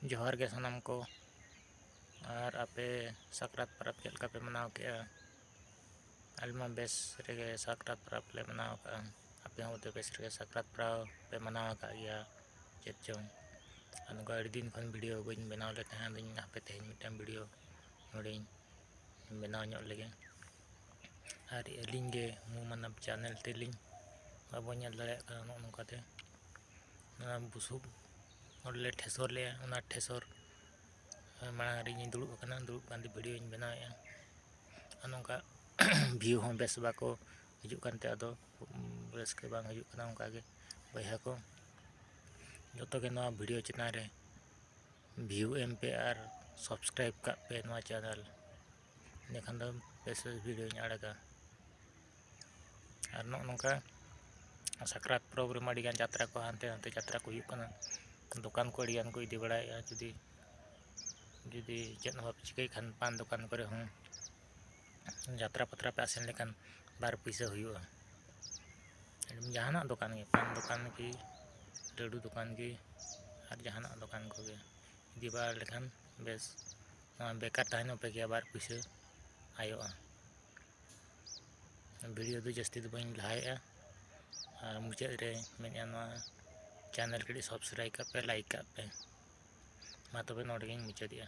ᱡᱚᱦᱟᱨ ᱜᱮ ᱥᱟᱱᱟᱢ ᱠᱚ ᱟᱨ ᱟᱯᱮ ᱥᱟᱠᱨᱟᱛ ᱯᱚᱨᱚᱵᱽ ᱪᱮᱫ ᱞᱮᱠᱟ ᱯᱮ ᱢᱟᱱᱟᱣ ᱠᱮᱜᱼᱟ ᱟᱞᱮ ᱢᱟ ᱵᱮᱥ ᱨᱮᱜᱮ ᱥᱟᱠᱨᱟᱛ ᱯᱚᱨᱚᱵᱽ ᱞᱮ ᱢᱟᱱᱟᱣ ᱠᱟᱜᱼᱟ ᱟᱯᱮ ᱦᱚᱸ ᱵᱮᱥ ᱨᱮᱜᱮ ᱥᱟᱠᱨᱟᱛ ᱯᱚᱨᱚᱵᱽ ᱯᱮ ᱢᱟᱱᱟᱣ ᱟᱠᱟᱫ ᱜᱮᱭᱟ ᱪᱮᱫ ᱪᱚᱝ ᱟᱨ ᱱᱚᱝᱠᱟ ᱟᱹᱰᱤ ᱫᱤᱱ ᱠᱷᱚᱱ ᱵᱷᱤᱰᱭᱳ ᱵᱟᱹᱧ ᱵᱮᱱᱟᱣ ᱞᱮᱫ ᱛᱟᱦᱮᱸᱫ ᱟᱫᱚᱧ ᱢᱮᱱᱫᱟ ᱦᱟᱯᱮ ᱛᱮᱦᱮᱧ ᱢᱤᱫᱴᱟᱱ ᱵᱷᱤᱰᱭᱳ ᱱᱚᱰᱮᱧ ᱵᱮᱱᱟᱣ ᱧᱚᱜ ᱞᱮᱜᱮ ᱟᱨ ᱟᱹᱞᱤᱧ ᱜᱮ ᱢᱩ ᱢᱟᱱᱚᱵᱽ ᱪᱮᱱᱮᱞ ᱛᱮᱞᱤᱧ ᱵᱟᱵᱚᱱ ᱧᱮᱞ ᱫᱟᱲᱮᱭᱟᱜ ᱠᱟᱱᱟ ᱱᱚᱜᱼᱚ ᱱᱚᱝᱠᱟᱛᱮ ᱚᱱᱟ ᱵᱩᱥᱩᱵ ᱚᱸᱰᱮᱞᱮ ᱴᱷᱮᱥᱚᱨ ᱞᱮᱫᱼᱟ ᱚᱱᱟ ᱴᱷᱮᱥᱚᱨ ᱢᱟᱲᱟᱝ ᱨᱮ ᱤᱧᱤᱧ ᱫᱩᱲᱩᱵ ᱟᱠᱟᱱᱟ ᱫᱩᱲᱩᱵ ᱠᱟᱛᱮᱫ ᱵᱷᱤᱰᱭᱳᱧ ᱵᱮᱱᱟᱣᱮᱫᱼᱟ ᱟᱨ ᱱᱚᱝᱠᱟ ᱵᱷᱤᱭᱩ ᱦᱚᱸ ᱵᱮᱥ ᱵᱟᱠᱚ ᱦᱤᱡᱩᱜ ᱠᱟᱱᱛᱮ ᱟᱫᱚ ᱨᱟᱹᱥᱠᱟᱹ ᱵᱟᱝ ᱦᱤᱡᱩᱜ ᱠᱟᱱᱟ ᱚᱱᱠᱟᱜᱮ ᱵᱚᱭᱦᱟ ᱠᱚ ᱡᱚᱛᱚᱜᱮ ᱱᱚᱣᱟ ᱵᱷᱤᱰᱭᱳ ᱪᱮᱛᱟᱱ ᱨᱮ ᱵᱷᱤᱭᱩ ᱮᱢ ᱯᱮ ᱟᱨ ᱥᱟᱵᱥᱠᱨᱟᱭᱤᱵᱽ ᱠᱟᱜ ᱯᱮ ᱱᱚᱣᱟ ᱪᱮᱱᱮᱞ ᱮᱸᱰᱮᱠᱷᱟᱱ ᱫᱚ ᱵᱮᱥ ᱵᱮᱥ ᱵᱷᱤᱰᱤᱭᱳᱧ ᱟᱲᱟᱜᱟ ᱟᱨ ᱱᱚᱜᱼᱚ ᱱᱚᱝᱠᱟ ᱥᱟᱠᱨᱟᱛ ᱯᱚᱨᱚᱵᱽ ᱨᱮᱢᱟ ᱟᱹᱰᱤ ᱜᱟᱱ ᱡᱟᱛᱨᱟ ᱠᱚ ᱦᱟᱱᱛᱮ ᱱᱟᱛᱮ ᱡᱟᱛᱨᱟ ᱠᱚ ᱦᱩᱭᱩᱜ ᱠᱟᱱᱟ ᱫᱚᱠᱟᱱ ᱠᱚ ᱟᱹᱰᱤ ᱜᱟᱱ ᱠᱚ ᱤᱫᱤ ᱵᱟᱲᱟᱭᱮᱫᱼᱟ ᱡᱩᱫᱤ ᱡᱩᱫᱤ ᱪᱮᱫ ᱦᱚᱸ ᱵᱟᱯᱮ ᱪᱤᱠᱟᱹᱭ ᱠᱷᱟᱱ ᱯᱟᱱ ᱫᱚᱠᱟᱱ ᱠᱚᱨᱮ ᱦᱚᱸ ᱡᱟᱛᱨᱟ ᱯᱟᱛᱨᱟ ᱯᱮ ᱟᱥᱮᱱ ᱞᱮᱠᱷᱟᱱ ᱵᱟᱨ ᱯᱩᱭᱥᱟᱹ ᱦᱩᱭᱩᱜᱼᱟ ᱡᱟᱦᱟᱱᱟᱜ ᱫᱚᱠᱟᱱ ᱜᱮ ᱯᱟᱱ ᱫᱚᱠᱟᱱ ᱜᱮ ᱞᱟᱹᱰᱩ ᱫᱚᱠᱟᱱ ᱜᱮ ᱟᱨ ᱡᱟᱦᱟᱱᱟᱜ ᱫᱚᱠᱟᱱ ᱠᱚᱜᱮ ᱤᱫᱤ ᱵᱟᱲᱟ ᱞᱮᱠᱷᱟᱱ ᱵᱮᱥ ᱵᱮᱠᱟᱨ ᱛᱟᱦᱮᱱ ᱦᱚᱸ ᱯᱮᱜᱮᱭᱟ ᱵᱟᱨ ᱯᱩᱭᱥᱟᱹ ᱟᱭᱚᱜᱼᱟ ᱵᱷᱤᱰᱤᱭᱳ ᱫᱚ ᱡᱟᱹᱥᱛᱤ ᱫᱚ ᱵᱟᱹᱧ ᱞᱟᱦᱟᱭᱮᱜᱼᱟ ᱟᱨ ᱢᱩᱪᱟᱹᱫ ᱨᱮ ᱢᱮᱱᱮᱜᱼᱟ ᱱᱚᱣᱟ ᱪᱮᱱᱮᱞ ᱠᱟᱹᱴᱤᱡ ᱥᱟᱵᱥᱠᱨᱟᱭᱤᱵᱽ ᱠᱟᱜ ᱯᱮ ᱞᱟᱭᱤᱠ ᱠᱟᱜ ᱯᱮ ᱢᱟ ᱛᱚᱵᱮ ᱱᱚᱰᱮ ᱜᱮᱧ ᱢᱩᱪᱟᱹᱫᱮᱜᱼᱟ